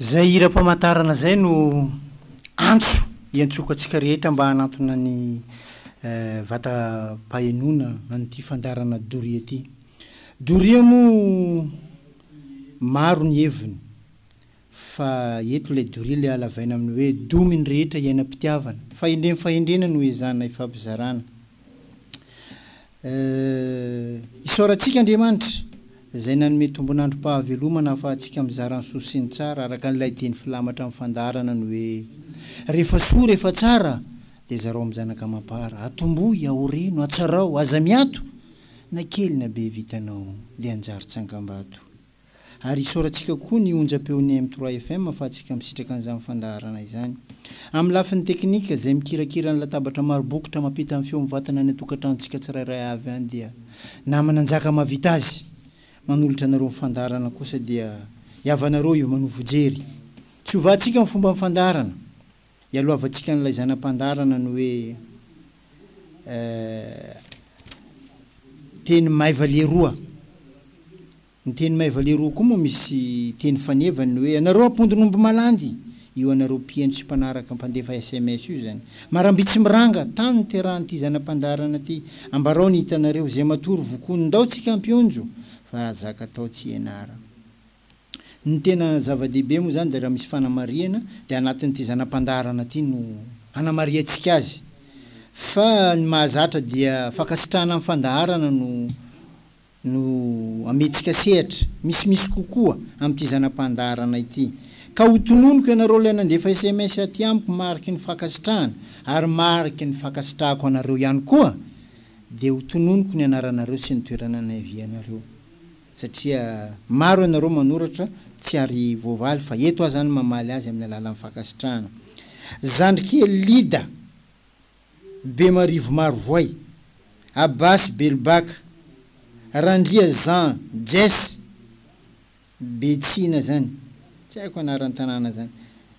Izay hiram-pamantarana izay no antso iantsoako antsika rehetra mba hanantona ny vatam-pahenoana an'ity fandaharana doria ity. Doria moa maro ny heviny fa eto ilay doria ilay halavaina amin'ny hoe domin'ny rehetra iainam-pitiavana. Fahendrem-fahendrena no ezahana hifampizarana. Eh, isaorantsika Andriamanitra Izay nanome tombon'androm-pahavelomana ahafahantsika mizara ny soa sy ny tsara araka an'ilay diany filamatra amin'ny fandaharana ny hoe, Rehefa soa, rehefa tsara, dia zarao amin'ny zanaka amam-para. Atombohy, aoreno, atsarao, aza miato, na kely na be vitanao, dia anjary tsangambato. Ary isaorantsika koa ny onjam-peon'ny M trois FM fa antsika misitraka an'izany fandaharana izany. Amin'ny lafiny teknika, izay mikirakira ny latabatra maro bokotra mampita ny feo mivantana any an-tokantranontsika tsirairay avy any dia Nama Nanjaka mahavita azy. Manolotra anareo ny fandaharana kosa dia i havanareo io Manovo Jery. Tsy hovahantsika ny fomban'ny fandaharana. Ialohavantsika an'ilay zana-pandaharana ny hoe. teny maiva leroa. Ny teny maiva leroa koa moa misy teny faneva ny hoe ianareo ampondon'omby malandy, io anareo mpihaino sy mpanaraka mpandefa sms io izany. Maramby tsy miranga, tany niterahan'ity zana-pandaharana ity. Ambarao ny hitanareo, izay matory vokoa, ndao tsy kampionjo, fa raha zaka atao tsy ianarana. Ny tena zava-dehibe moa izany dia raha misy fanamarihana dia anatin'ity zana-pandaharana ity no hanamarihantsika azy. Fa ny mahazatra dia fankasitrahana ny fandaharana no no amentsika sehatra misimisy kokoa amin'ity zana-pandaharana ity. Ka ho tononiko ianareo ilay nandefa sms aty amiko mariky ny fankasitrahana ary mariky ny fankasitrahako anareo ihany koa dia ho tononiko ny anaranareo sy ny toerana niavianareo. satria maro ianareo manoratra tsy ary voavaly fa eto aho zany mamaly azy amin'ny alalan'ny fankasitrahana. Zandrikely Lida, Bemarivo Marovoay, Abasy Belobaka, Randria Jean, Jess, Betsina zany, tsy haiko anaran-tanàna zany,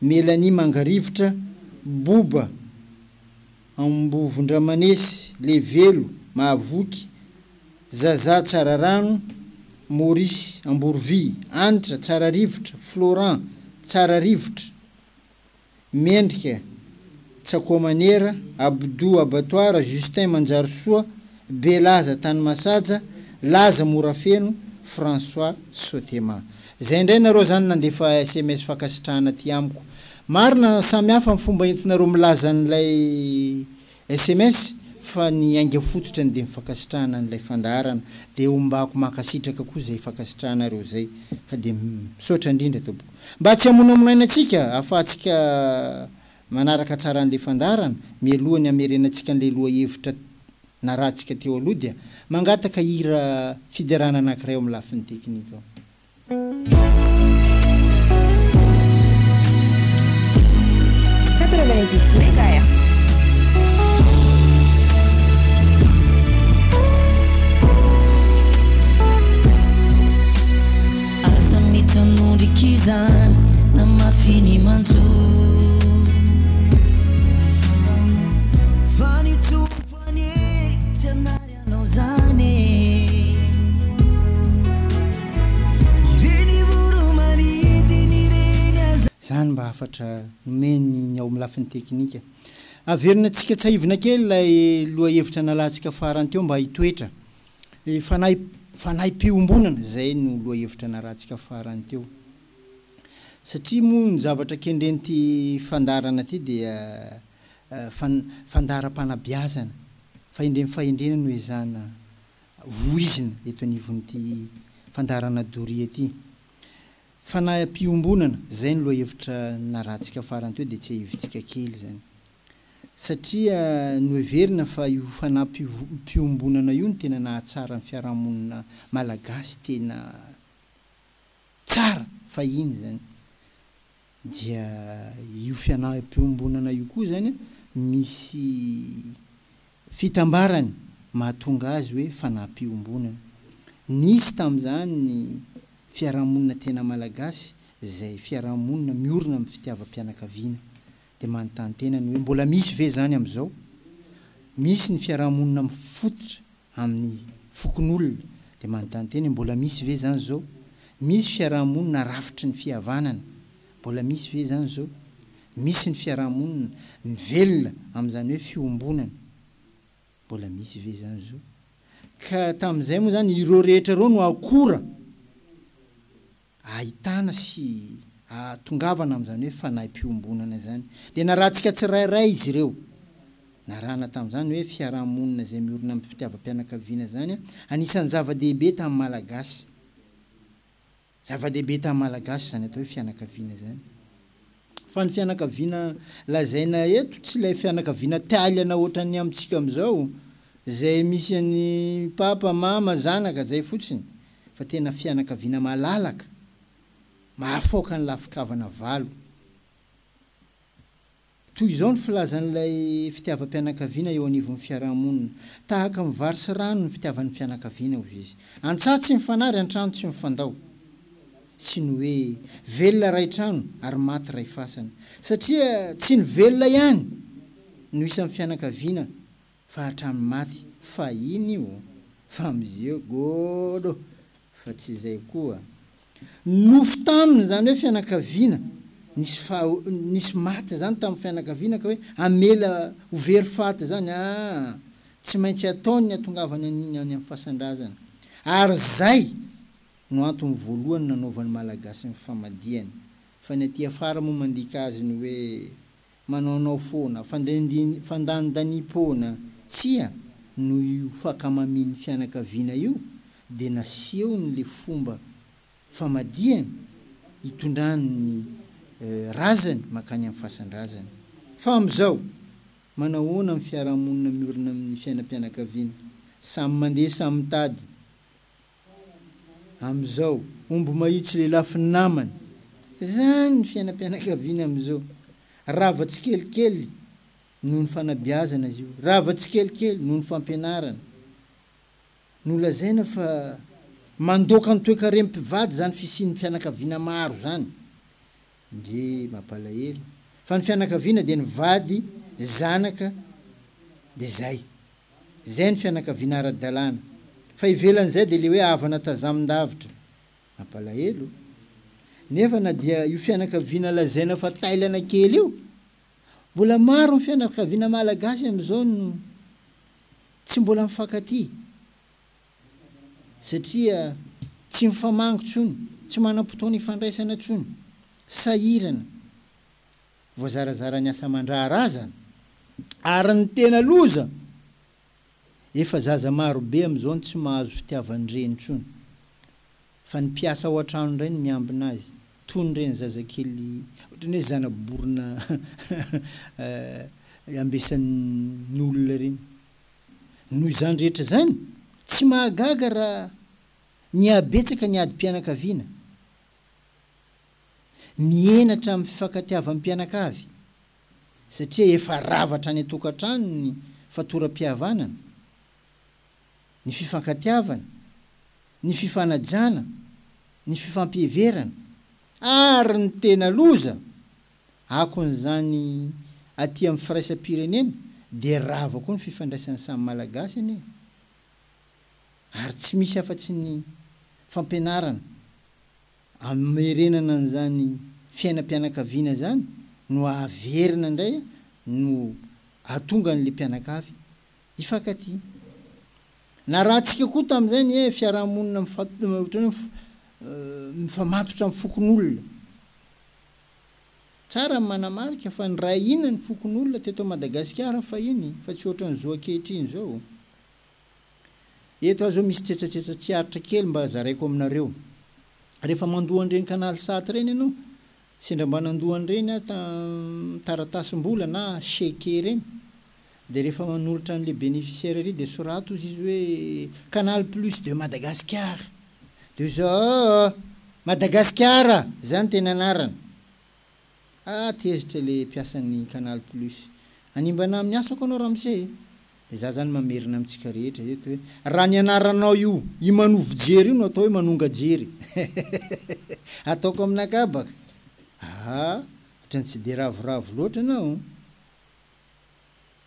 Melanie Mangarivotra, Boba, Ambovondramanesy, Levelo, Mahavoky, Zaza, Tsararano, Maurice, Amborovia, Anitra, Tsararivotra, Florent, Tsararivotra, Mendrika, Tsakoamanera, Abdou Abattoir, Justin Manjarisoa, Belaza tany Masaja, Laza Morafeno, François Sotema. Zay ndray nareo zany nandefa sms fankasitrahana aty amiko. Marina samy hafa ny fomba entinareo milaza an'ilay sms fa ny ainga fototrany dia ny fankasitrahana an'ilay fandaharana dia ombako mankasitraka koa zay fankasitrahanareo zay fa dia misaotra indrindra tompoko. Mba tsy hamonamonaina antsika afahatsika Manaraka tsara an'ilay fandaharana, mialohan'ny hamerenantsika an'ilay lohahevitra narahantsika teo aloha dia mangataka hira fiderana anankiray ao amin'ny lafiny teknika aho. Quatre-vingt-dix mégahertz. Aza mitanondrika izany na mafy ny manjo Fa ny Tompo anie tsy hanary anao zany e Ireny voro manidina ireny aza Izany mba hafatra nomeny ny ao amin'ny lafiny teknika. Averina antsika tsahivina kely ilay lohahevitra nalatsika farany teo mba hitoetra Ny fanahy, fanahim-piombonana, izay no lohahevitra narahantsika farany teo. Satria moa ny zavatra kendren'ity fandaharana ity dia fan, fandaharam-panabeazana, fahendren'ny fahendrena no ezahina voizina eto anivon'ity fandaharana doria ity. Fanahim-piombonana, izay no lohahevitra narahantsika farany teo dia tsiahivitsika kely izany. satria noheverina fa io fanampiom-piombonana io no tena nahatsara ny fiarahamonina malagasy tena tsara fahiny zany dia io fianaham-piombonana io koa zany misy fitambarany mahatonga azy hoe fanaham-piombonana. Nisy tamin'izany ny fiarahamonina tena malagasy zay fiarahamonina miorina amin'ny fitiavam-pianakaviana. dia manontany tena ny hoe mbola misy ve izany amin'izao? Misy ny fiaraha-monina mifototra amin'ny fokonolona dia manontany tena hoe mbola misy ve izany izao? Misy fiaraha-monina rafitry ny fihavanana, mbola misy ve izany izao? Misy ny fiaraha-monina mivelona amin'izany hoe fiombonana, mbola misy ve izany izao? Ka tamin'izay moa izany ireo rehetra ireo no akora ahitana sy ahatongavana amin'izany hoe fanahy mpiombonana izany. Dia narahantsika tsirairay izy ireo. Narahana tamin'izany hoe fiaraha-monina izay miorina amin'ny fitiavam-pianakaviana izany anisan'ny zava-dehibe tamin'ny Malagasy. Zava-dehibe tamin'ny Malagasy izany atao hoe fianakaviana izany. Fa ny fianakaviana lazaina eto tsy ilay fianakaviana taliana ohatran'ny amintsika amin'izao, izay misy an'i papa, mama, zanaka, izay fotsiny, fa tena fianakaviana malalaka, mahafaoka ny lafi-kavana valo. Toy izao ny filazan'ilay fitiavam-pianakaviana eo anivon'ny fiaraha-monina, Tahaka ny vary sy rano ny fitiavan'ny fianakaviana, hoy izy. An-tsaha tsy mifanary, an-trano tsy mifandao. Sy ny hoe, Velona iray trano, ary maty iray fasana. Satria tsy ny velona ihany no isan'ny fianakaviana. Fa hatramin'ny maty fahiny io fa mizeo godo fa tsy izay koa nofy taminy izany hoe fianakaviana nisy faho nisy maty izany tamin'ny fianakaviana ka hoe hamela ho very faty izany aa tsy maintsy ataony ny atongavany an'iny any amin'ny fasandrazana ary zay no antony voalohany nanaovan'ny malagasy ny famadihany fa ny aty afara moa mandika azy ny hoe Manaonao foana, fandendin fandanindanipoana tsia noho io fakamamin'ny fianakaviana io dia nasehony le fomba famadihany itondrany ny razany makany amin'ny fasandrazany. Fa amizao, manahoana ny fiarahamonina miorina amin'ny fiainam-pianakaviana? Samy mandeha samy mitady amizao. Omby mahitsy lelafin'ny namany. Zany ny fiainam-pianakaviana amizao. Rava tsikelikely noho ny fanabeazana izy io. Rava tsikelikely noho ny fampianarana. Nolazaina fa mandoaka ny toekarem-pivady zany fisian'ny fianakaviana maro zany. Ndrii mampalahelo fa ny fianakaviana dia ny vady, zanaka dia zay. Zay ny fianakaviana ara-dalàna fa ivelan'izay dia le hoe havana tazamin-davitra. Mampalahelo. Nefa na dia io fianakaviana lazaina fa tailana kely io, mbola maro ny fianakaviana malagasy amin'izao no tsy mbola mifankatia. satria tsy mifamangy tsony, tsy manam-potoana ifandraisana tsony, sahirana, voazarazara ny asa aman-draharaha zany, ary ny tena loza efa zaza maro be amin'izao no tsy mahazo fitiavan'ny reny tsony, fa ny mpiasa ao an-trano indray no miambina azy, toy ny reny zazakely ohatran'ny hoe zana-borona ambesan'ny olona reny, Noho izany rehetra izany, tsy mahagaga raha nihabetsaka ny adim-pianakaviana mihenatra amin'ny fifankatiavam-pianakavy, satria efa rava hatrany an-tokantrano ny fatoram-pihavanana, ny fifankatiavana, ny fifanajana, ny fifampiheverana, ary ny tena loza, Akon'izany aty amin'ny firaisam-pirenena dia rava koa ny fifandraisan'ny samy Malagasy anie ary tsy misy afa-tsy ny fampianarana amerenana an'izany fiainam-pianakaviana izany no averina indray no ahatonga an'ilay mpianakavy hifankatia. Narahantsika koa tamin'izay ny fiaraha-monina mifa-ohatran'ny hoe mifamatotra amin'ny fokonolona. Tsara ny manamarika fa niray hina ny fokonolona teto Madagasikara fahiny fa tsy ohatran'ny zo ankehitriny izao. Eto aho izao misy tsetsatsetsa tsy aritra kely mba zaraiko aminareo. Rehefa mandoa an'ireny canal sat ireny ianao, sendra mba nandoa an'ireny aho tam taratasy mbola na cheque ireny, Dia rehefa manolotra an'ilay bénéficiaire ery dia soraty ozy izy hoe Canal plus de Madagascar. Dia ozy oh oh oh! Madagasikara! Izany no teny anarany. Ah! Tezitra ilay mpiasan'ny Canal plus. Hanimbana amin'ny asako anao ramose e! Dia za izany mamerina amintsika rehetra eto hoe raha ny anaranao io Imanovo Jery io no atao hoe Manonga Jery eh! Ataoko amin'akabaka. Ah! Ohatran'ny tsy dia ravoravo loatra ianao.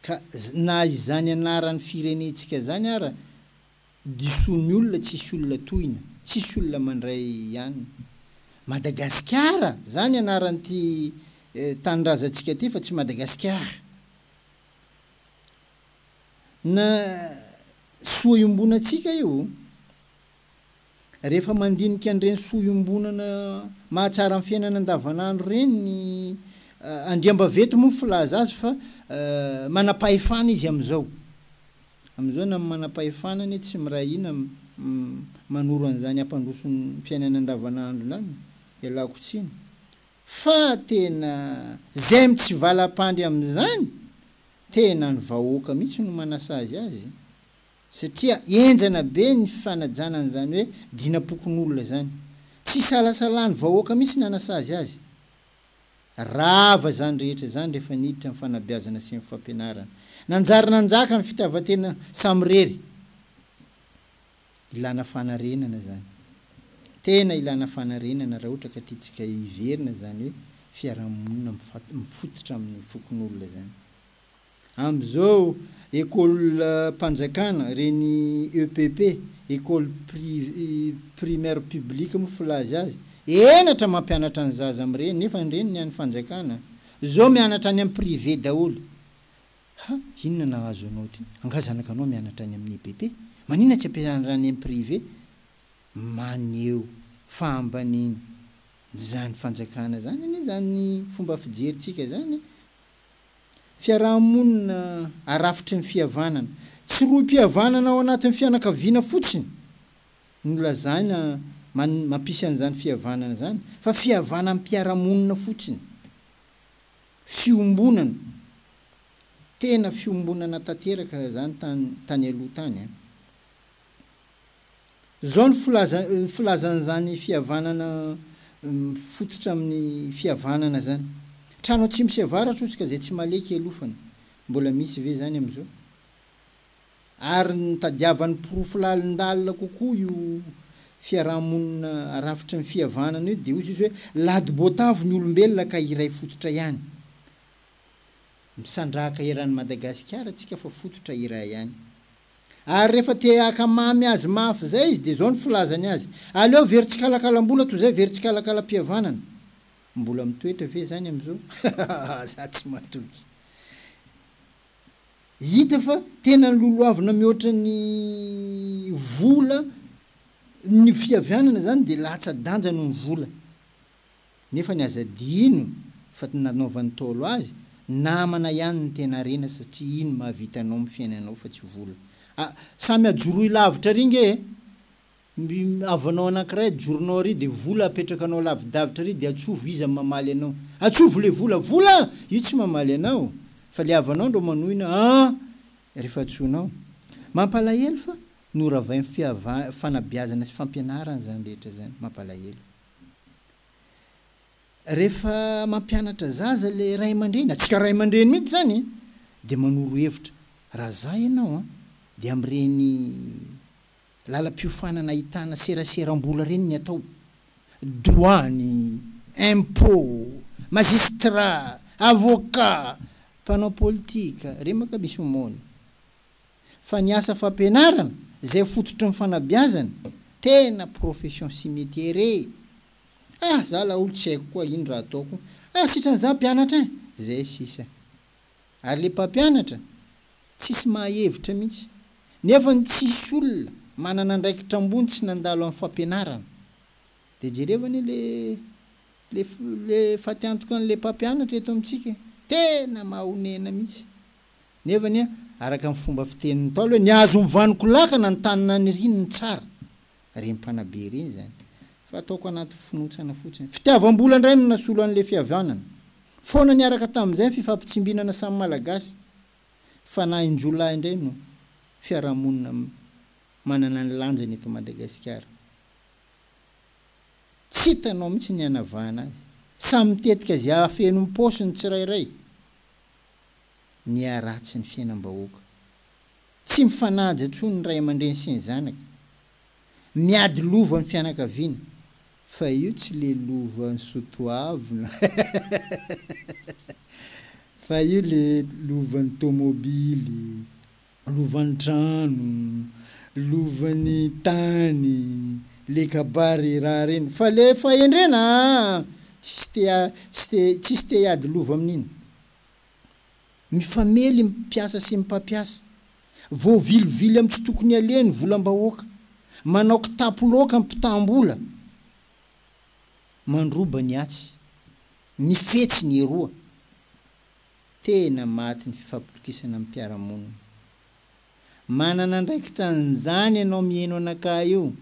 Ka na izany anaran'ny firenentsika zany ara diso ny olona tsisy olona tohina, tsisy olona mandray an Madagasikara zany anaran'ity tanindrazantsika ty fa tsy Madagasikara. Na soa iombonantsika io Rehefa mandinika an'ireny soa iombonana mahatsara ny fiainana andavanandro ireny ny andriambaventy moa ny filaza azy fa manam-pahefana izy amin'izao. Amin'izao na ny manam-pahefana anie tsy miray hina manoro an'izany hampandroso ny fiainana andavanandro izany, ialako tsiny. Fa tena izay mitsivalam-pandry amin'izany, tena ny vahoaka mihitsy no manasazy azy. Satria enjana be ny fanajana an'izany hoe dinam-pokonolona izany. Tsy isalasalan'ny vahoaka mihitsy ny hanasazy azy. Rava izany rehetra izany rehefa niditra ny fanabeazana sy ny fampianarana. Nanjary nanjaka ny fitiavan-tena samirery. Ilana fanarenana izany. Tena ilana fanarenana raha ohatra ka tiantsika hiverina izany hoe fiarahamonina mifototra amin'ny fokonolona izany. Amin'izao ekolim-panjakana, ireny EPP, école primaire publique moa filaza azy, henatra mampianatra ny zaza amin'ireny, nefa ireny ny an'ny fanjakana izao mianatra any amin'ny privé daholo. Ha, inona nahazo anao ity? Angaha zanakanao mianatra any amin'ny EPP? Maninona tsy ampianarina any amin'ny privé? Maneho fahambaniana izany fanjakana izany anie izany fomba fijerintsika izany. Fiaraha-monina arafitry ny fihavanana. Tsy rohim-pihavanana ao anatin'ny fianakaviana fotsiny no lazaina mampisy an'izany fihavanana izany, fa fihavanam-piarahamonina fotsiny. Fiombonana, tena fiombonana tanteraka izany tany aloha tany an! Izao no filazan'izany fihavanana mifototra amin'ny fihavanana izany, Trano atsimo sy avaratra hozy ka izay tsy maleha kialofana. Mbola misy ve izany amin'izao? Ary nitadiavany porofo lalindalina kokoa io fiaraha-monina rafitry ny fihavanana io dia hozy izy hoe, Ladi-boatavo ny olombelona ka iray fototra ihany. Misandrahaka eran'i Madagasikara tsika fa fototra iray ihany. Ary rehefa te haka mamy azy mafy izay izy dia izao no filazany azy, Aleo very tsikalakalam-bola toy izay very tsikalakalam-pihavanana. Mbola mitoetra ve izany amin'izao? Hahahaha, za tsy matoky. Hita fa tena nilolohavina mihoatra ny vola ny fihavianana izany dia latsa-danja noho ny vola. nefa ny aza adino fa ny nanaovan'ny ntaolo azy namana ihany ny tena harena satria iny mahavita anao amin'ny fiainanao fa tsy vola a samy ajoroy lavitra ary nge e mby havanao anankiray ajoronao ary dia vola apetrakanao lavidavitra ary dia atsovo iza no mamaly anao atsovo le vola vola io tsy mamaly anao fa le havanao ndro manohina an refa atsoinao mampalahelo fa noravain'ny fihavan fanabeazana sy fampianarana zany rehetra zany mampalahelo. Rehefa mampianatra zaza ilay ray aman-dreny, antsika ray aman-dreny mihitsy izany e, dia manoro hevitra, raha za ianao an, dia amin'ireny lalam-piofanana ahitana seraseram-bola ireny ny atao, douane, impôt, magistrat, avocat, mpanao politika, remaka misy omaony. fa ny asa fampianarana izay fototry ny fanabeazana tena profession sy metier e! ah za la olo tsy haiko koa ino raha ataoko ah sitran za mpianatra eh! zay sisa ary le mpampianatra tsisy maha hevitra mihitsy nefa ny tsisy olona manana andraikitra ambony tsy nandalo am fampianarana de jereo anie le le le fatiantokan le mpampianatra eto amitsika e! tena mahonena mihitsy. Nefa anie, araka ny fomba fitenin'ny Ntaolo hoe, Nihazo ny vanoko lakana ny tany naniriany ny tsara. Ireny mpanabe ireny izany. Fa ataoko anaty finoantsana fotsiny. Fitiavam-bola indray no nasolo an'ilay fihavanana. Foana niaraka tamin'izay ny fifampitsimbinana samy Malagasy. Fanahin-jiolahy indray no fiarahamonina manana ny lanjany eto Madagasikara. Tsy hitanao mihitsy ny hanavahana azy. Samy mitetika izay hahafeno ny paosiny ny tsirairay. ny haratsy ny fiainam-bahoaka. Tsy mifanaja intsony ny ray aman-dreny sy ny zanaka. Miady lova ny fianakaviana, fa io tsy le lovan'i Soatoavina fa io le lovan'ny tomobily Lovan'ny trano, lovan'ny tany, le kabary raha reny fa le fahendrena aa tsisy te tsy te tsisy te hiady lova amin'iny. Mifamely ny mpiasa sy ny mpampiasa. Voavilovily amin'ny tsy tokony aleha ny volam-bahoaka. Manao kitapo loaka ny mpitam-bola. Mandroba ny atsy. Mifetsy ny eroa. tena maty ny fifampitokisana amin'ny mpiara-monina. Manana andraikitra an'izany ianao miheno anakahy io,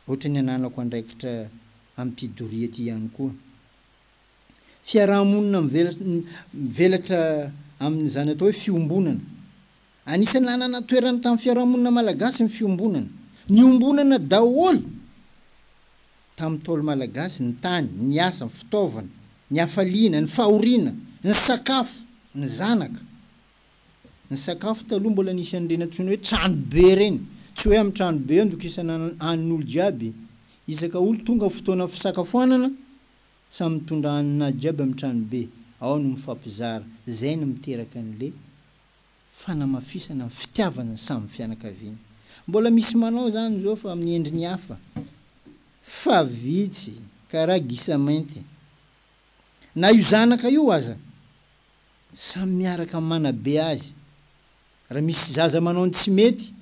ohatra ny ananako andraikitra amim-pidoria ity ihany koa. Fiaraha-monina mivelatra amin'ny izany atao hoe fiombonana. Anisan'ny nanana toerany tamin'ny fiarahamonina malagasy ny fiombonana. Niombonana daholo tamin'ny Ntaolo malagasy ny tany, ny asa, ny fitaovana, ny hafaliana, ny fahoriana, ny sakafo, ny zanaka. Ny sakafo taloha mbola nisy an'ireny antsoina hoe trano be ireny. Tsy hoe amin'ny trano be andokisana hanin'olo jiaby. Isaka olo tonga fotoana fisakafoanana, samy mitondra haninazy jiaby amin'ny trano be. Ao no mifampizara. Zay no miteraka an'le. fanamafisana ny fitiavana samy fianakaviana. Mbola misy manao izany izao fa amin'ny endriny hafa, fa vitsy ka raha gisa mainty. Na io zanaka io aza, samy miaraka manabe azy. Raha misy zaza manao ny tsy mety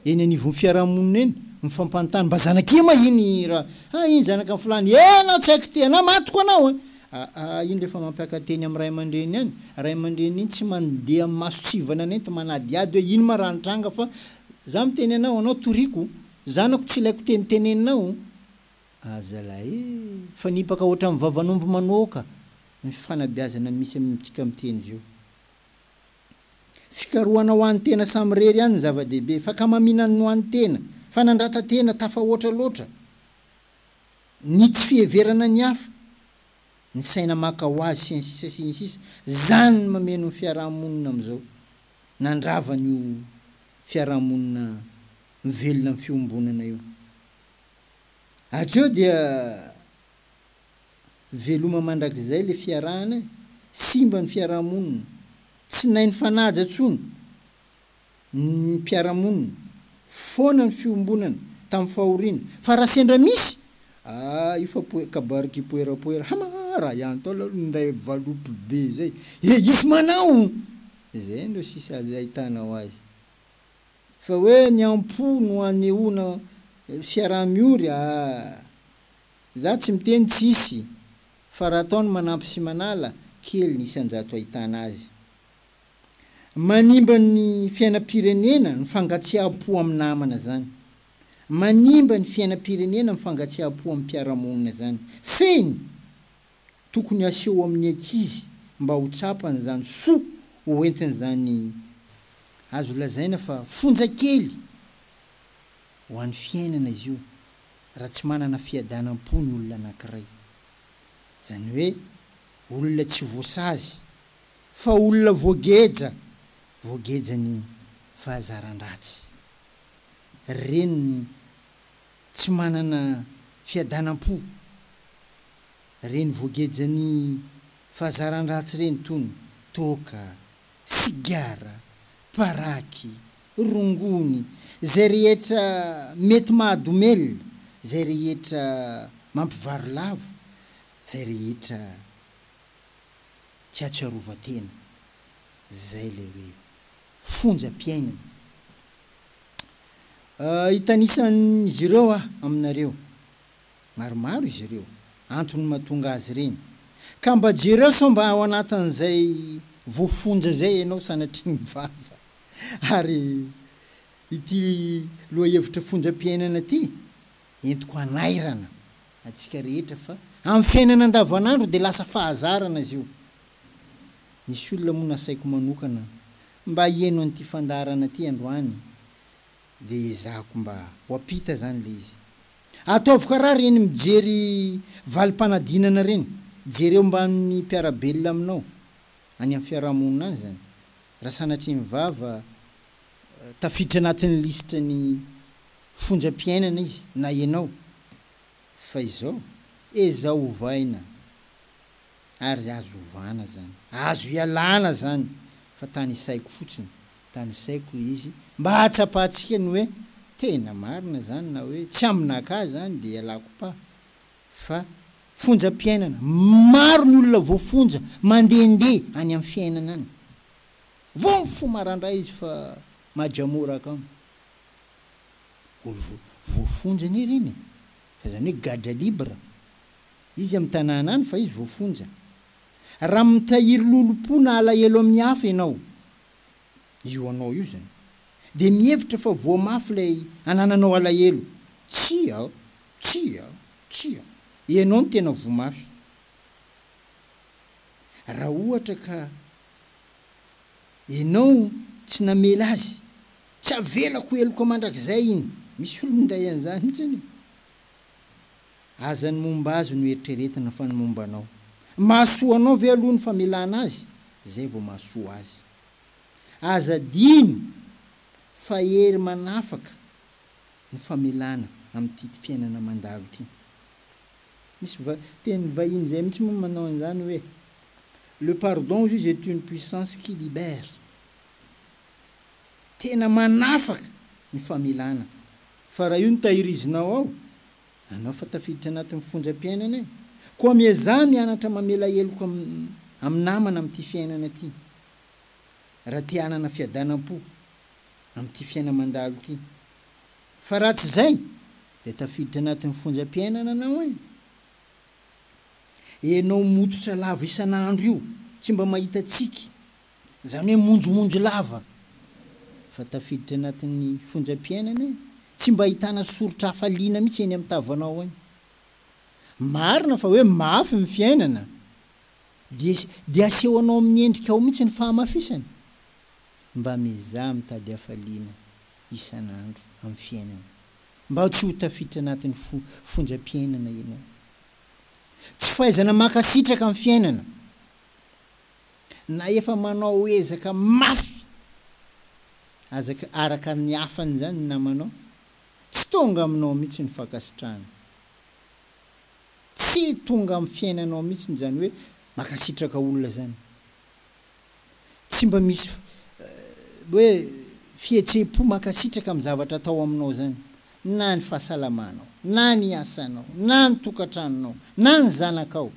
eny anivon'ny fiarahamonina eny, mifampanontany, mba zanak'ie ma iny ra, ah iny zanaka fulany, eh anao tsy haiko ty, anao matiko anao a! Aa iny rehefa mampiaka-teny amin'ny ray aman-dreny any, ray aman-dreny iny tsy mandeha maso tsivana nety manadihady hoe ino ma raha nitranga fa za miteny anao, anao toriako, zanako tsy ilaiko teny teneninao, aa zalahy ee, mifanipaka ohatran'ny vavan'omby manoaka ny fifanabeazana misy amintsika miteny zio. Fikarohana ho an'ny tena samirery ihany ny zava-dehibe, fakamaminan'ny ho an'ny tena, fanandrata-tena tafahoatra loatra. ny tsy fiheverana ny hafa, ny saina maka ho azy sy ny sisa sy ny sisa, zany no mameno ny fiaraha-monina amin'izao, nandrava an'io fiaraha-monina mivelona amin'ny fiombonana io. Hatreo dia veloma mandrakizay ilay fiarahana e, simba ny fiaraha-monina, tsy nainy fanaja tsony, ny mpiara-monina, foana ny fiombonana tamin'ny fahoriana, fa raha sendra misy, ah io fa poe, kabary kipoera poera, hama ah raha ihany tao aloha ninday valopy be izay, he hisy manao! izay no sisa azo ahitanao azy. Fa hoe ny am-po no hanehoana fiaraha-miory, ah! za tsy miteny tsy hisy, fa raha atao ny manampy sy manala, kely ny isan-jato ahitana azy. Manimba ny fiainam-pirenena ny fangatsiaham-po amin'ny namana zany. Manimba ny fiainam-pirenena ny fangatsiaham-po amin'ny mpiara-monina zany. Fehiny! Tokony aseho amin'ny ankizy mba ho tsapany izany soa ho entiny izany azo lazaina fa fonja kely ho an'ny fiainana izy io raha tsy manana fiadanam-po ny olona anankiray. Izany hoe olona tsy voasazy. Fa olona voageja, voageja ny fahazaran-dratsy. Ry reniny tsy manana fiadanam-po, reny voagejan'ny fahazaran-dratsy reny tony, toaka, sigara, paraky, rongony, zay rehetra mety mahadomelina, zay rehetra mampivarilavo, zay rehetra Tsy atsiarovan-tena zay le hoe fonja mpiainana. Hitanisan'izy ireo aho aminareo, maromaro izy ireo, antony mahatonga azy ireny. Ka mba jereo sao mba ao anatin'izay voafonja zay ianao sanatria mivava. Ary ity lohahevitra fonjam-piainana ty Entiko hanairana antsika rehetra fa amin'ny fiainana andavanandro dia lasa fahazarana izy io. Nisy olona moa nasaiko manokana mba hihaino an'ity fandaharana ity androany dia ezahako mba ho ampita izany ilay izy. Ataovy karaha ireny mijery valim-panadinana ireny, jereo mbamin'ny mpiara-belona aminao any amin'ny fiarahamonina any izany, raha sanatria ny vava tafiditra anatin'ny lisitra ny fonjam-piainana izy na ianao fa izao ezao ovaina ary azo ovana zany azo ialana zany fa tany saiko fotsiny tany saiko le izy mba hahatsapahantsika ny hoe tena marina zany na hoe tsy aminakah zany de ialako pa fa fonjam-piainana maro ny olona voafonja mandende any am fiainana any Vovy fo marandray izy fa majamora akama. Olo voafonja anie ireny e. Fa izany hoe gadra libre. Izy amin'ny tanàna any fa izy voafonja. Raha mitahiry lolompo na alahelo amin'ny hafa ianao, io anao io izany. Dia mihevitra fa voa mafy ilay anananao alahelo. Tsia! Tsia! Tsia! Ianao no tena voa mafy. Raha ohatra ka Enao tsy namela azy. Tsy avelako ho heloka mandrakizay iny. Misy olo minday an'izany mihitsy anie. Aza ny momba azy no eritreretina fa ny momba anao. Mahasoa anao ve aloha ny famelana azy izay vao mahasoa azy. Aza adino fa hery manafaka ny famelana amin'ity fiainana mandalo ity. Misy teny vahiny izay mihitsy moa manao an'izany hoe Le pardon juge est une puissance qui libère. Tena manafaka ny famelana. Fa raha io no tahirizinao ao, anao fa tafiditra anatin'ny fonjam-piainana e. Koa miezaha mianatra mamela heloka amin'ny namana amin'ity fiainana ity. Raha te hanana fiadanam-po amin'ity fiaina mandalo ity. Fa raha tsy izay dia tafiditra anatin'ny fonjam-piainana anao e. Enao mototra lava isan'andro io tsy mba mahita tsiky, zany hoe monjomonjo lava fa tafiditra anatin'ny fonjam-piainana e! Tsy mba ahitana soritra hafaliana mihitsy eny amin'ny tavanao any. Marina fa hoe mafy ny fiainana dia dia asehonao amin'ny endrikao mihitsy ny fahamafisany. Mba miezaha mitady hafaliana isan'andro amin'ny fiainana. mba tsy ho tafiditra anatin'ny fonjam-piainana ianao. Tsy fahaizana mankasitraka amin'ny fiainana, na efa manao ezaka mafy aza araka ny hafan'izany ny namanao, tsy tonga aminao mihitsy ny fankasitrahana. Tsy tonga amin'ny fiainanao mihitsy izany hoe mankasitraka olona izany. tsy mba misy hoe fihetsem-po mankasitraka amin'ny zavatra atao aminao izany, na ny fahasalamanao, na ny asanao, na ny tokantranonao, na ny zanakao.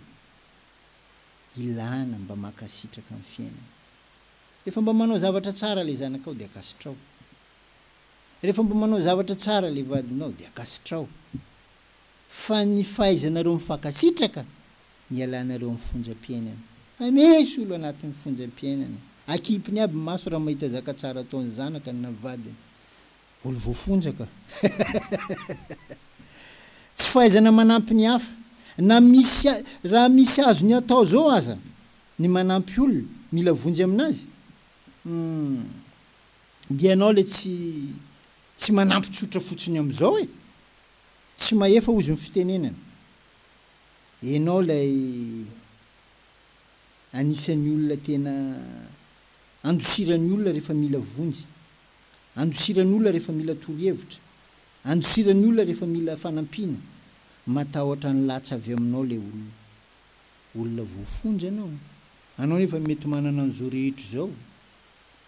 Ilana mba mankasitraka amin'ny fiainana. Rehefa mba manao zavatra tsara ilay zanakao dia ankasitraho. Rehefa mba manao zavatra tsara ilay vadinao dia ankasitraho. fa ny fahaizanareo mifankasitraka ny hialanareo amin'ny fonjam-piainana. Hamisy olo anatin'ny fonjam-piainana, akipiny aby ny maso raha mahita zaka tsara ataon'ny zanakany na vadiny. Olo voafonja ka. Tsy fahaizana manampy ny hafa. Na misy raha misy azony atao zao aza ny manampy olona mila vonjy aminazy, humm dia ianao le tsy tsy manampy tsotra fotsiny amizao e. Tsy mahefa ozy ny fitenenana. Enao ilay anisan'ny olona tena andosiran'ny olona rehefa mila vonjy, andosiran'ny olona rehefa mila torohevitra, andosiran'ny olona rehefa mila fanampiana. Matahotra ny latsa avy aminao ilay olona. Olona voafonja ianao. Anao nefa mety manana an'izao rehetra izao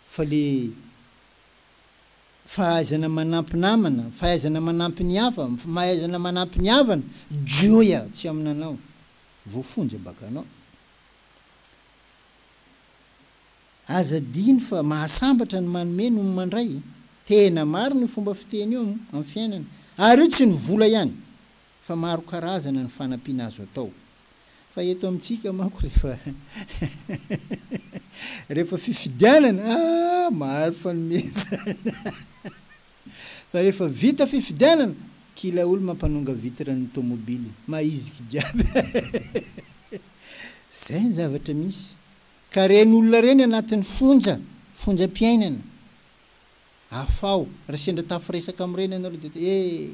fa ilay Fahaizana manampy namana, fahaizana manampy ny hafa, mahaizana manampy ny havana, joia tsy aminanao, voafonja bakanao. Aza adino fa mahasambatra ny manome noho ny mandray. Tena marina io fomba fiteny io amin'ny fiainana. Ary io tsy ny vola ihany, Fa maro karazana ny fanampiana azo atao. Fa eto amintsika manko rehefa rehefa fifidianana ah maro fanomezana fa rehefa vita fifidianana kila olo mampanonga vitre ny tomobile mahiziky jiaby zay ny zavatra misy ka reny olona reny anatiny fonja fonja piainana afaho ra sendra tafiresaka amreny anareo de eh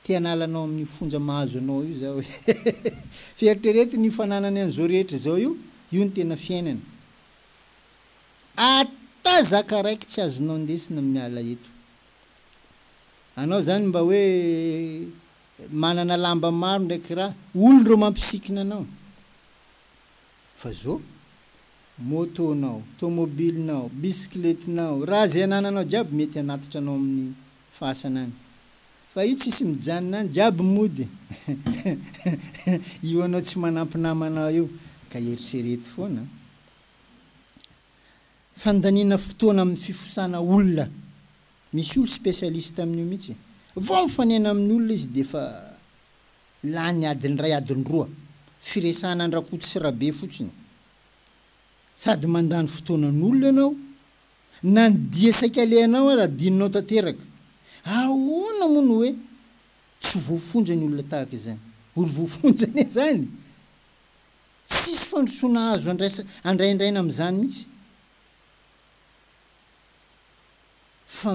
Te hanala anao amin'io fonja mahazo anao io zaho e! Fa eritrereto ny io fananany an'izao rehetra izao io, io ny tena fiainany. Ata zaka raiky tsy azonao ndesina miala eto. Anao zany mba hoe manana lamba maro ndraiky ra, olona ireo mampisikina anao. Fa zo, moto-nao, tomobilinao, bisikletinao, raha ze anananao jiaby mety hanatitra anao amin'ny Fasana any. Fa io tsisy mijanona any jiaby mody io anao tsy manampy namanao io ka eritrereto foana. Fandaniana fotoana amin'ny fifosana olona. Misy olo specialiste amin'io mihitsy. Vao mifanena amin'olona izy dia efa lany adiny iray adiny roa. Firesahana an-dRakoto sy Rabe fotsiny. Sady mandany fotoanan'olona ianao Na ny dia saika alehanao ara adinonao tanteraka. Ahoana moa no hoe tsy voafonja ny olona tahaka izany? Olo voafonja anie izany! Tsisy fandrosoana azo andraisa andraindraina amin'izany mihitsy fa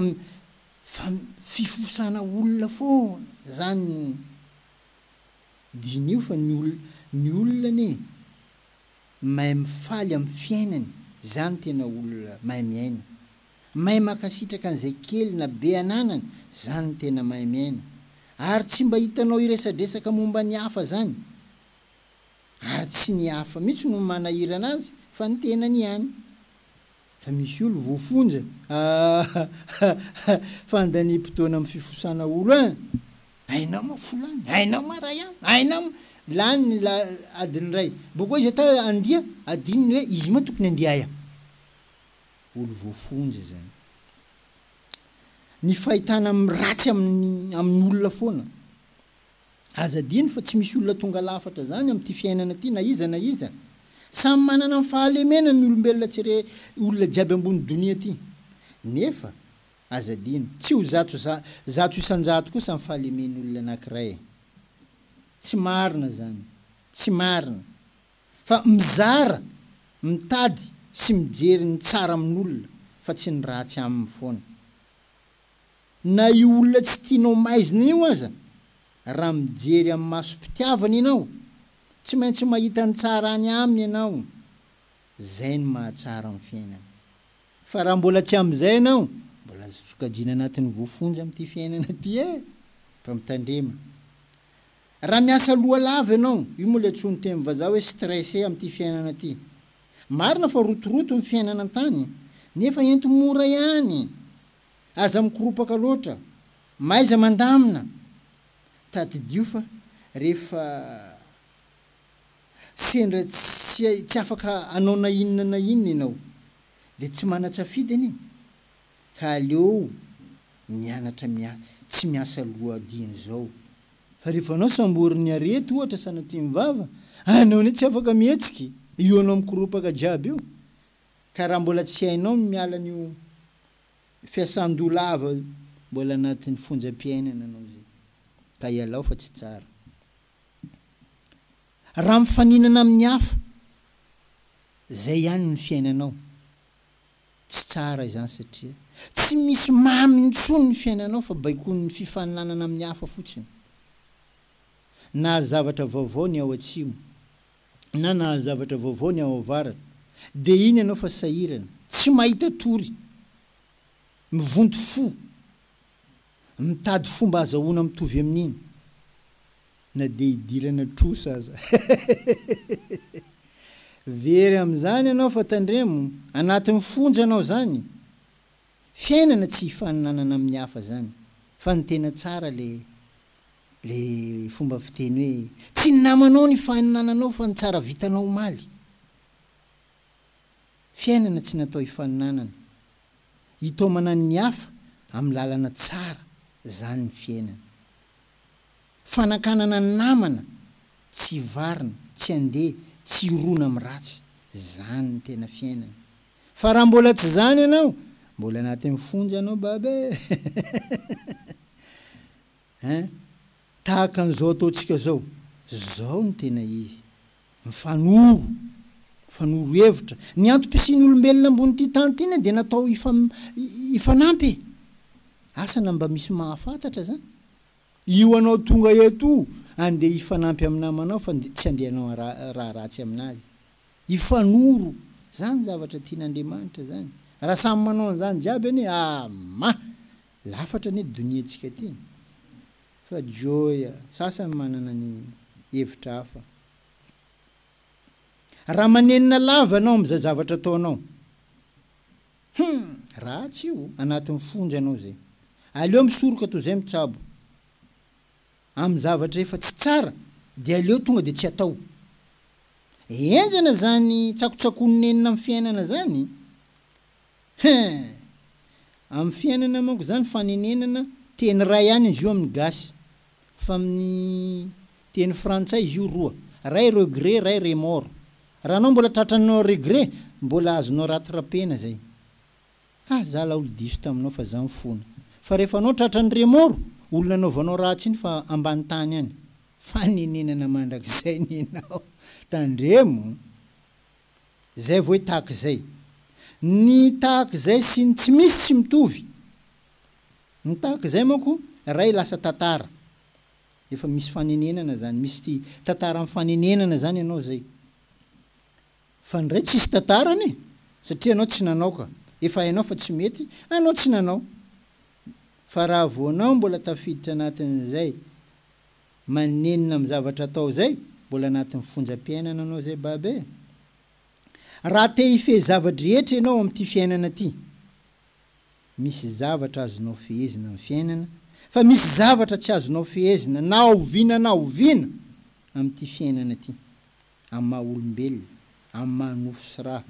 fa fifosana olona foana izany. Diniho fa ny olona ny olona anie mahay mifaly amin'ny fiainany, zany tena olona mahay miaina, mahay mankasitraka an'izay kely na be ananany, zany tena mahay miaina, ary tsy mba hitanao hiresadresaka momba ny hafa zany, ary tsy ny hafa mihitsy no manahirana azy fa ny tenany ihany. Fa misy olo voafonja aahh fa andaniam-potoana am fifosana olo an! Aina ma folany, aina ma ray an, aina ma. Lany ny la adiny iray. Boko aiza ta andia adiny ny hoe izy ma tokony andia aia. Olo voafonja zany. Ny fahitana am ratsy am ny olona foana. Aza adino fa tsy misy olona tonga lafatra zany amin'ity fiainana ty na iza na iza. Samy manana ny fahalemena ny olombelona tsy re olona jiaby ambony donia ty. Nefa aza adino, tsy ho zato za zato isanjato kosa ny fahalemen'olona anakiray e. Tsy marina zany. Tsy marina. Fa mizara, mitady sy mijery ny tsara amin'olona fa tsy ny ratsy aminy foana. Na io olona tsy tianao maizina io aza, raha mijery amin'ny masom-pitiavana ianao, tsy maintsy mahita ny tsara any aminy ianao. Izay no mahatsara ny fiainana. Fa raha mbola tsy amin'izay ianao, mbola azo sokajiana anatin'ny voafonja amin'ity fiainana ity e! Fa mitandrema. Raha miasa loha lava ianao, io moa ilay antsoin'ny teny vazaha hoe stressé amin'ity fiainana ity. Marina fa rotoroto ny fiainana an-tany, nefa enti-mora ihany Aza mikoropaka loatra, mahaiza mandamina! Tadidio fa rehefa sendra tsy afaka hanao na inona na inona ianao dia tsy manan-tsafidy anie ka aleo mianatra tsy miasa loha dieny izao. Fa rehefa anao samborin'ny arety ohatra sanatria mivava, anao anie tsy afaka mihetsika, io anao mikoropaka jiaby io Ka raha mbola tsy hainao ny miala an'io fiasan-doha lava io, mbola anatin'ny fonjam-piainana anao izay, ka ialao fa tsy tsara. Raha mifaninana amin'ny hafa, izay ihany ny fiainanao, tsy tsara izany satria tsy misy mamy intsony ny fiainanao fa baikoin'ny fifaninanana amin'ny hafa fotsiny. Na zavatra vaovao ny ao atsimo, na nahazo zavatra vaovao ny ao avaratra dia iny ianao fa sahirana, tsy mahita tory, mivonto fo, mitady fomba azahoana mitovy amin'iny na dia idirana trosa aza. Very amin'izany ianao fa tandremo, anatin'ny fonja anao izany. Fiainana tsy hifaninanana amin'ny hafa izany fa ny tena tsara le Le fomba fiteny hoe tsy ny namanao ny faninananao fa ny tsara vitanao omaly. Fiainana tsy natao hifaninanana, hitaomana ny hafa amin'ny lalana tsara zany ny fiainana. Fanakanana ny namana tsy varina, tsy andeha, tsy hirona amin'ny ratsy, zany ny tena fiainana. Fa raha mbola tsy zany ianao, mbola anatin'ny fonja ianao baba e! Hein? Tahaka an'izao ataontsika zao, zao no tena izy. Mifanoro, mifanoro hevitra. Ny antom-pisian'ny olombelona ambonin'ity tany ity anie dia natao hifanampy e! Asa na mba misy mahafantatra zany? Io anao tonga eto io andeha hifanampy amin'ny namanao fa tsy andeha hanao raha ratsy aminazy. Hifanoro, zany zavatra tian'Andriamanitra zany. Raha samy manao an'izany jiaby anie, ah! mah! Lafatra anie donia tsika ty fa joia sasany manana ny hevitra hafa. Raha manenina lava anao amzay zavatra ataonao. Hum ratsy io anatiny fonja anao zay. Aleo misoroka toy zay mitsabo am zavatra efa tsy tsara de aleo tonga de tsy atao. Enjana zany tsakotsakony nenina am fiainana zany. Hein! Amin'ny fiainana manko zany fanenenana teny iray ihany izy io amin'ny gasy fa amin'ny teny frantsay izy io roa, iray regret iray remords. Raha anao mbola tratranao regret mbola azonao rattrapena zay. Ah za laolo diso taminao fa za mifona. Fa rehefa anao tratran'ny remords, olona anaovanao ratsy iny fa ambany tany any. Fanenenana mandrakizay nenao. Tandremo. Zay vo hoe tahaka izay. Ny tahaka izay sy ny tsy misy tsy mitovy. Ny tahaka izay manko ray lasa tantara. Efa misy fanenenana zany. Misy tantara am fanenenana zany ianao zay. Fa ny ray tsisy tantarany e. Satria ianao tsy nanao ka. Efa hainao fa tsy mety, anao tsy nanao. Fa raha vo anao mbola tafiditra anatin'izay. Manenina am zavatra atao zay, mbola anatin'ny fonja piainana anao zay baba e! Raha te hifehy zava-drehetra ianao amin'ity fiainana ty, misy zavatra azonao fehezina am fiainana, fa misy zavatra tsy azonao fehezina na oviana na oviana amin'ity fiainana ty, am maha olombelona, am maha nofo sy ra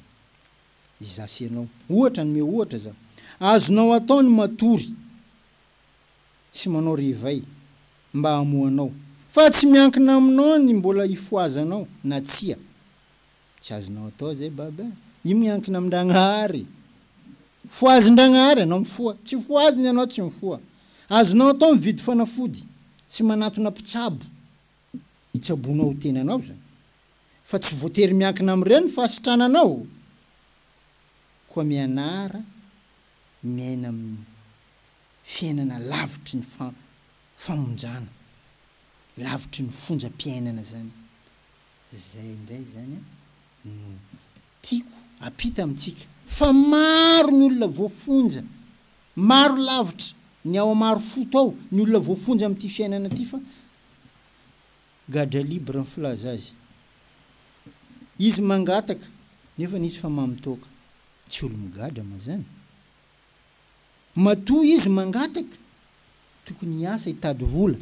izaho sy ianao. Ohatra, anome ohatra zaho, azonao atao ny matory, sy manao rivay mba hamohanao fa tsy miankina aminao ny mbola hifohazanao na tsia, tsy azonao atao zay baba eh! io miankina amin-dragnahary, fohazin-dragnahary anao mifoha, tsy fohaziny anao tsy mifoha, azonao atao mividy fanafody sy manatona mpitsabo hitsabonao tenanao zany fa tsy voatery miankina amin'ireny fahasitrananao, koa mianara miaina amin'ny. fiainana lavitry ny famonjana, lavitry ny fonjam-piainana zany. Zay indray zany no tiako ampita amintsika fa maro ny olona voafonja, maro lavitra ny ao Marofoto ao ny olona voafonja amin'ity fiainana ity fa Gadra libre ny filaza azy. Izy mangataka nefany izy fa mamy toaka. Tsy olo-migadra ma zany? Matoa izy mangataka tokony hiasa hitady vola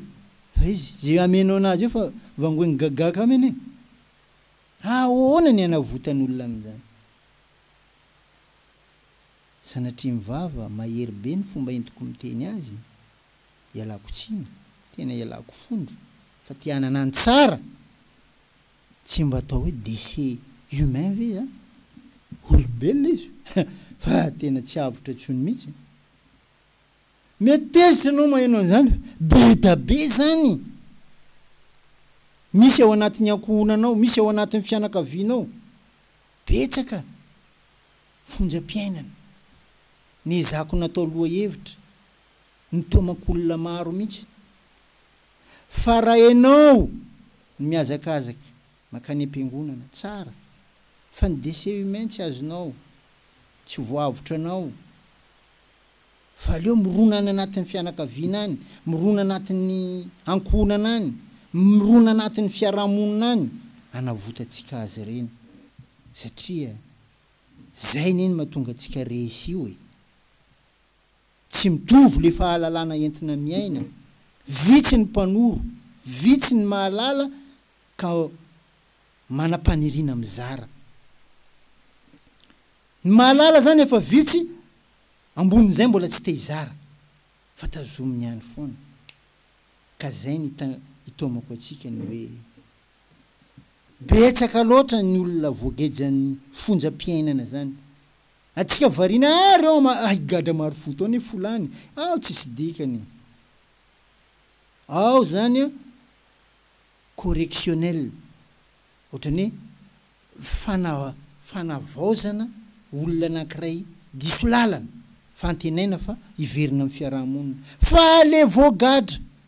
fa izy ze ameno anazy eo fa vangoiny gaga ka mene ahoana ny anavotan olona amin'izany sanatria mivava mahery be ny fomba entiko miteny azy ialako tsiny tena ialako fondro fa te hanana ny tsara Tsy mba atao hoe déchet humain ve izany? Olombelona izy fa tena tsy avotra intsony mihitsy. Mety tezitra ianao maheno an'izany fa bedabe izany. Misy ao anatin'ny ankohonanao, misy ao anatin'ny fianakavianao. Betsaka fonjam-piainana niezako natao lohahevitra. ny tomak' olona maro mihitsy fa raha ianao no mihazakazaka mankany am-piangonana, tsara, fa ny décès humain tsy azonao, tsy voavotranao, fa aleo mirona any anatin'ny fianakaviana any, mirona anatin'ny ankohonana any, mirona anatin'ny fiarahamonina any hanavotantsika azy ireny, satria izay anie no mahatonga antsika resy io e! Tsy mitovy le fahalalana entina miaina, vitsy ny mpanoro, vitsy ny mahalala ka manam-paniriana mizara. Ny mahalala zany efa vitsy, ambonin'izay mbola tsy te hizara fa tazominy any foana. Ka zay ny itaomako antsika ny hoe, betsaka loatra ny olona voagejan'ny fonjam-piainana zany Atsika variana ary ao ma ah higadra marofoto ao ne folany ao tsisy dikany ao zany a correctionnel otrany hoe fana fanavaozana olona anakiray diso lalana fa antenaina fa hiverina am fiaraha monina fa le voagadra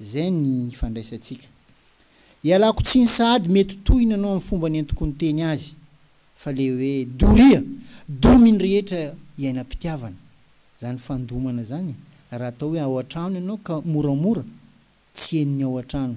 Izay ny ifandraisantsika. Ialako tsiny sahady mety tohina anao amin'ny fomba nentiko niteny azy fa le hoe doria, domy ny rehetra iainam-pitiavana. Zany fandomana zany raha atao hoe ao an-trano ianao ka moramora tsy henony ao an-trano.